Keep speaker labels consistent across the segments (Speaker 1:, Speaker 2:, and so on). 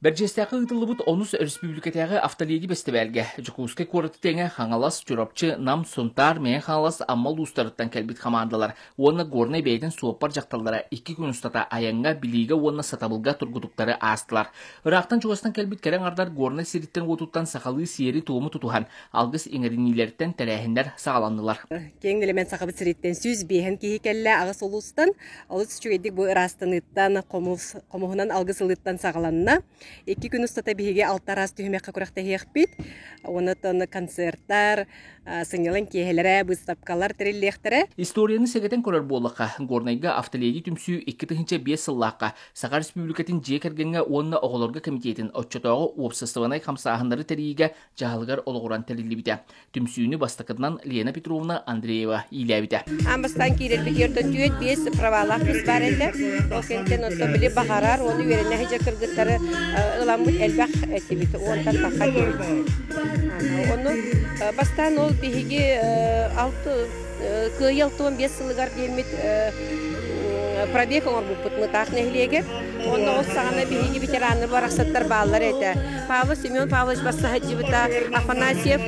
Speaker 1: Бэрдьиэстээххэ ыытыллыбыт онус өрөспүүбүлүкэтээҕи автолиги бэстибээлгэ Дьокуускай куораты тэҥэ Хаҥалас, Чурапчы, Нам, Сунтаар, Мэҥэ Хаҥалас, Амма улуустарыттан кэлбит командалар уонна Горнай бэйэтин суоппар дьахталлара икки күн устата айаҥҥа, билиигэ уонна сатабылга тургутуктары аастылар. Ыраахтан-чугастан кэлбит кэрэ аҥардар Горнай сириттэн-уотуттан сахалыы сиэри-туому тутуһан, алгыс иҥэриниилэриттэн тэрээһиннэр саҕаланнылар. Киэҥ элемент
Speaker 2: сахабыт сириттэн сүүс биэһин киһи кэллэ аҕыс улуустан. Олус үчүгэйдик бу ыраастаныыттан, хомуһунан алгыс ылыыттан саҕаланна. Икки күн устата биһиги алта араас түһүмэххэ күрэхтэһиэхпит. Онон концертар, сынньалаҥ киэһэлэрэ, быыстапкалар тэриллиэхтэрэ. Историяны сэгэтэн
Speaker 1: көрөр буоллахха, Горнайга автоледи түмсүү икки тыһыынча биэс сыллаахха Саха Республикатын дьиэ кэргэҥҥэ уонна оҕолорго комитетин оччотооҕу уопсастыбанай хамсааһыннары тэрийиигэ дьаһалыгар олоҕуран тэриллибитэ. түмсүүнү бастакытынан Лена Петровна Андреева иилээбитэ. Ам бастаан киирэрбитигэр
Speaker 2: түөрт биэс правалаах кыыс баар этэ. Ол кэнниттэн онто били баҕарар уону үөрэнэ сыдьа кыргыттары ыламмыт элбэх этибит. Уонтан тахха диэбит. Онно бастаан ол биһиги алты Кыайыл туон биэс сылыгар диэммит пробег оҥорбуппут Мытаах нэһилиэгэр. Онно ол саҕана биһиги ветераны барахсаттар бааллар этэ. Павел Семен Павлович бассаһыдьыбыта, Афанасьев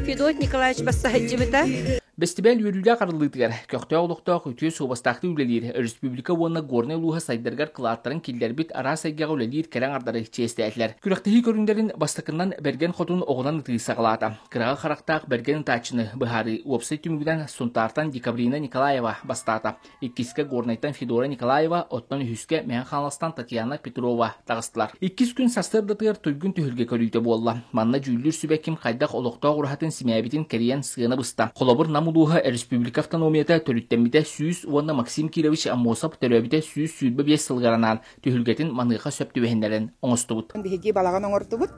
Speaker 2: Федот Николаевич бассаһыдьыбыта. Бэстибээл
Speaker 1: үөрүүлээх арыллыытыгар көхтөөх олохтоох үтүө суобастаахтар үлэлиир өрөспүүбүлүкэ уонна Горнай улууһа сайдарыгар кылааттарын киллэрбит араас эйгэҕэ үлэлиир кэрэҥ ардары чиэстээтилэр. Күрэхтэһии көрүҥнэрин бастакынан Бэргэн Хотун оҕунан ытыы саҕалаата. Кыраҕы харахтаах бэргэн ытааччыны быһаарыы уопсай түмүгүнэн Сунтаартан Декабрина Николаева бастаата. Иккискэ Горнайтан Федора Николаева, оттон үһүскэ Мэҥэ-Хаҥаластан Татьяна Петрова таҕыстылар. Иккис күн сарсыардатыгар туйгун түһүлгэ көрүүтэ буолла. Манна дьүүллүүр сүбэ ким хайдах олохтоох ураһатын симээбитин кэрийэн сыана быста. Холобур Нам улууһа республика автономията төрүттэммитэ сүүс уонна Максим Кирович Аммосов төрөөбүтэ сүүс сүүрбэ биэс сылыгар анаан түһүлгэтин маныаха сөп түбэһиннэрэн оҥостубут. Биһиги балаҕан оҥортубут.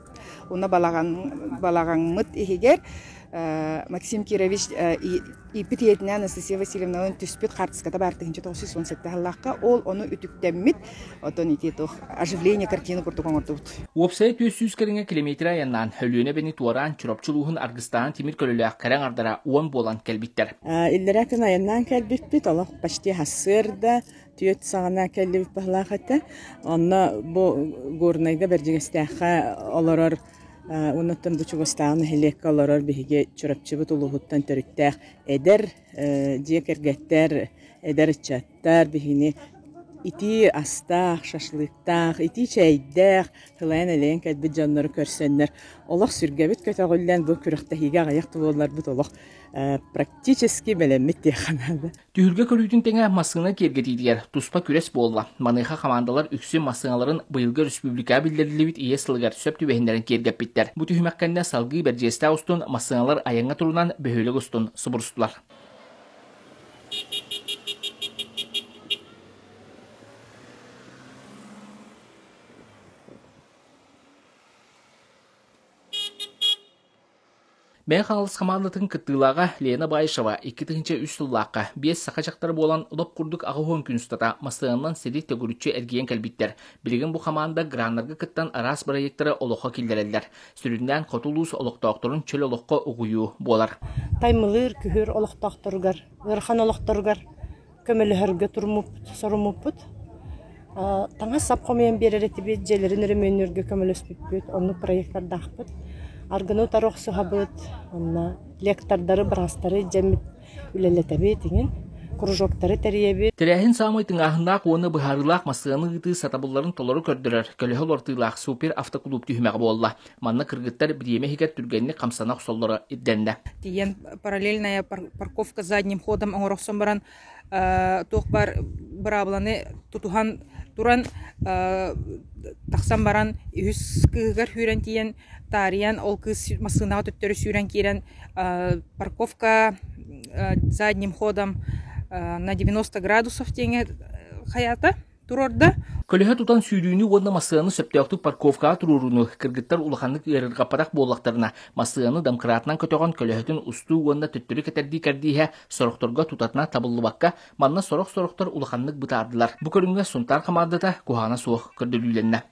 Speaker 3: Уна балаҕан балаҕаҥмыт иһигэр Максим Кирович ииппит ийэтинээн Анастасия Васильевналан түспүт хаартыската баар тыһынча тоғыз он сэттэ сыллаахха ол ону үтүктэммит отон ити туох оживление картина курдук оҥордубут. Уопсайа түөс сүүс
Speaker 1: кэриҥэ километрэ айаннаан Өлүөнэ бэни туораан Чурапчы улууһун аргыстаан тимир көлөлөөх кэрэҥ ардара уон буолан кэлбиттэр. Иллэрэ күн айаннаан
Speaker 4: кэлбиппит олох почти хассыырда түөрт саҕана кэллибит баһылаах этэ. Онно бу Горнайда Бэрдьигэстээххэ олорор уонуттан бу чугастааҕы нэһилиэккэ олорор биһиги Чурапчыбыт улууһуттан төрүттээх эдэр дьиэ кэргэттэр, эдэр ыччаттар биһини итии астаах, шашлыктаах, итии чэйдээх, тылайан-элэйэн кэлбит дьоннору көрсөннөр олох сүргэбит көтөҕүллэн бу күрэхтэһиигэ аҕыйах буолларбыт олох практически бэлэммит диэххэ наада. Түһүлгэ көрүүтүн тэҥэ
Speaker 1: массыына киэргэтиитигэр туспа күрэс буолла. Маныаха командалар үксү массыыналарын быйылгы республикаҕа биллэриллибит ийэ сылыгар сөп түбэһиннэрэн киэргэппиттэр. Бу түһүмэх кэннэ салгыы Бэрдьиэстээх устун массыыналар айаҥҥа турунан бөһүөлэк устун субурустулар. Бэйэ хаҥалас хамаандатын кыттыылааҕа Лена Баишева икки тыһыынча үс сыллаахха биэс саха дьахтара буолан олох курдук аҕа уһун күн устата массыынанан сири төгүрүччү эргийэн кэлбиттэр. Билигин бу хамаанда граннарга кыттан араас бырайыактары олоххо киллэрэллэр. Сүрүннээн хоту улуус олохтоохторун чөл олоххо угуйуу буолар. Таймылыыр,
Speaker 5: күһүр олохтоохторугар, ыарахан олохторугар көмөлөһөргө туруммуппут, соруммуппут. таҥас-сап хомуйан биэрэр этибит, дьиэлэрин өрөмүөннүүргэ көмөлөспүппүт, оннук проектардаахпыт. Аргыны утары охсуһабыт, онно лектордары, бырастары дьэммит үлэлэтэбит иҥин. кружоктары тэрийэбит. Тэрээһин саамай тыҥааһыннаах
Speaker 1: уонна быһаарыылаах массыынаны ыытыы сатабылларын толору көрдөрөр көлөһө олортуулаах супер автоклуб түһүмэҕэ буолла. Манна кыргыттар бириэмэ иһигэр түргэнник хамсана охсоллоро ирдэннэ. Тиийэн
Speaker 6: параллельная парковка задним ходом оҥорохсон баран туох бар быраабыланы тутуһан туран тахсан баран үһүс кыыһыгар сүүрэн тиийэн таарыйан ол кыыс массыынаҕа төттөрү сүүрэн киирэн парковка задним ходом на 90 градусов диэҥҥэ хаята турорда көлөһө тутан
Speaker 1: сүүрүүнү уонна массыынаны сөптөөхтүк парковкаҕа туруорууну кыргыттар улаханнык ыарырҕаппатах буоллахтарына массыынаны дамкыраатынан көтөҕөн көлөһөтүн устуу уонна төттөрү кэтэрдии кэрдииһэ сорохторго тутатына табыллыбакка манна сорох-сорохтор улаханнык бытаардылар бу көрүҥҥэ сунтаар хамаандата куһаҕана суох көрдөрүүлэннэ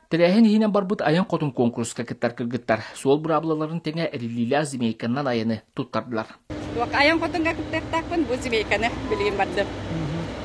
Speaker 1: Тэрээһин иһинэн барбыт айан хотун куонкуруска кыттар кыргыттар суол быраабылаларын тэҥэ эриллиилээх змейканнан айаны туттардылар. Айан хотунга
Speaker 2: кыттыахтаахпын бу змейканы билигин бардым.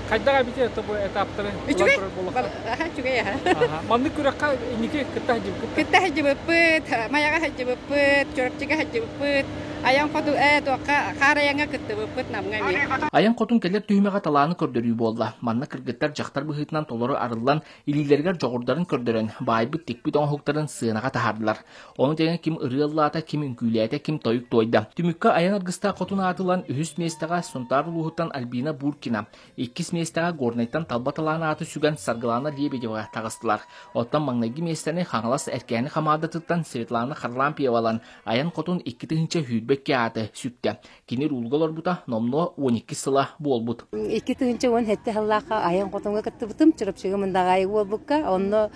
Speaker 2: Хайдах эбити
Speaker 7: это бу этаптары Үчүгэй. Үчүгэй
Speaker 2: аха. Маннык
Speaker 7: күрэххэ инники кытта хадьыбыккыт. Кытта хадьыбыппыт,
Speaker 2: маяга хадьыбыппыт, чурапчыга хадьыбыппыт, аян хоту ээ туохха хаар аяңа кыттыбыппыт намга ми. Айан хотун кэлэр
Speaker 1: түһүмэҕэ талааны көрдөрүү буолла. Манна кыргыттар дьахтар быһыытынан толору арыллан Илиилэригэр дьоҕурдарын көрдөрөн, баайбыт-тикпит оҥоһуктарын сыанаҕа таһаардылар. Ону тэҥэ ким ырыа ыллаата, ким үҥкүүлээтэ, ким тойук туойда. Түмүккэ айан аргыстаах хотун аатылан үһүс миэстэҕэ Сунтаар улууһуттан Альбина Буркина, иккис миэстэҕэ Горнайтан Талба талаан ааты сүгэн Саргылаана Лебедева таҕыстылар. Оттон маҥнайгы миэстэни Хаҥалас Эркээни хамаандатыттан Светлана Харлампьева ылан, айан хотун икки тыһыынча сүүрбэкки ааты сүктэ. Кини рулга олорбута номнуо 12 сыла буолбут. Икки тыһынча уон
Speaker 8: хетте халлаахха айан котомга кыттыбытым, Чурапчыга мындаҕайы уолбукка, онно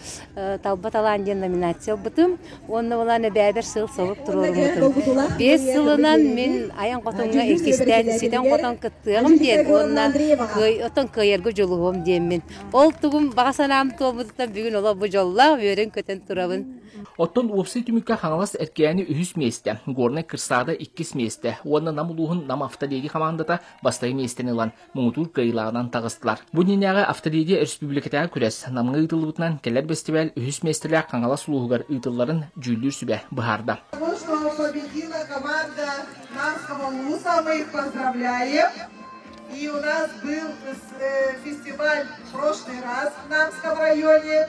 Speaker 8: Талба талаан диэн номинация ылбытым, онно болаан эбээбэр сыл солук туруоруммутум. Бес сылынан мин айан котомга иккистээн ситэн котон кыттыағым диэн уонна отон кыйыргы жулуһум диэммин. Ол тугум баҕа санаам туолбутуттан бүгүн олор бу жоллаах үөрөн көтөн турабын. Оттон уопсай
Speaker 1: түмүккэ Хаҥалас Эркээни үһүс миэстэ, Горнай Кырсаада иккис миэстэ уонна Нам улууһун Нам автолиги командата бастакы миэстэни ылан муҥутуур кыайыылааҕынан таҕыстылар. Бу дневнээҕи автолиги республикатааҕы күрэс Намҥа ыытыллыбытынан кэлэр бэстибээл үһүс миэстэлээх Хаҥалас улууһугар ыытылларын дьүүллүүр сүбэ быһаарда. И у нас был
Speaker 9: э, фестиваль в прошлый раз в Намском районе.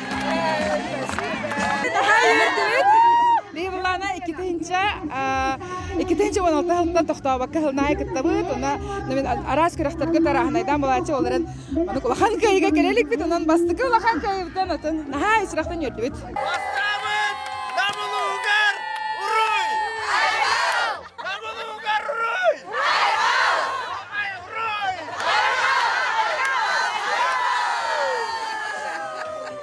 Speaker 6: Наһаа үөрдүбүт. Быйыллаана икитинчэ икитинчи уон алта сылтан тохтообокко сылнаайы кыттабыт уна мин араас күрэхтэргэ тарааһынайдаан балаачча олорон манук улахан кыайыга кэлэ иликпит унан бастакы улахан кыайыттан атын наһаа исрахтан үөрдүбүт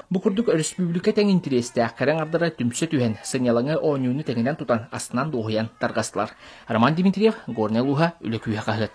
Speaker 1: Бу курдук өрөспүүбүлүкэ тэҥ интириэстээх кэрэ аҥардара түмсэ түһэн, сынньалаҥы оонньууну тэҥинэн тутан, астынан-дуоһуйан тарҕастылар. Роман Дмитриев, Горнай улууһа, Үлэ күүһэ хаһыат.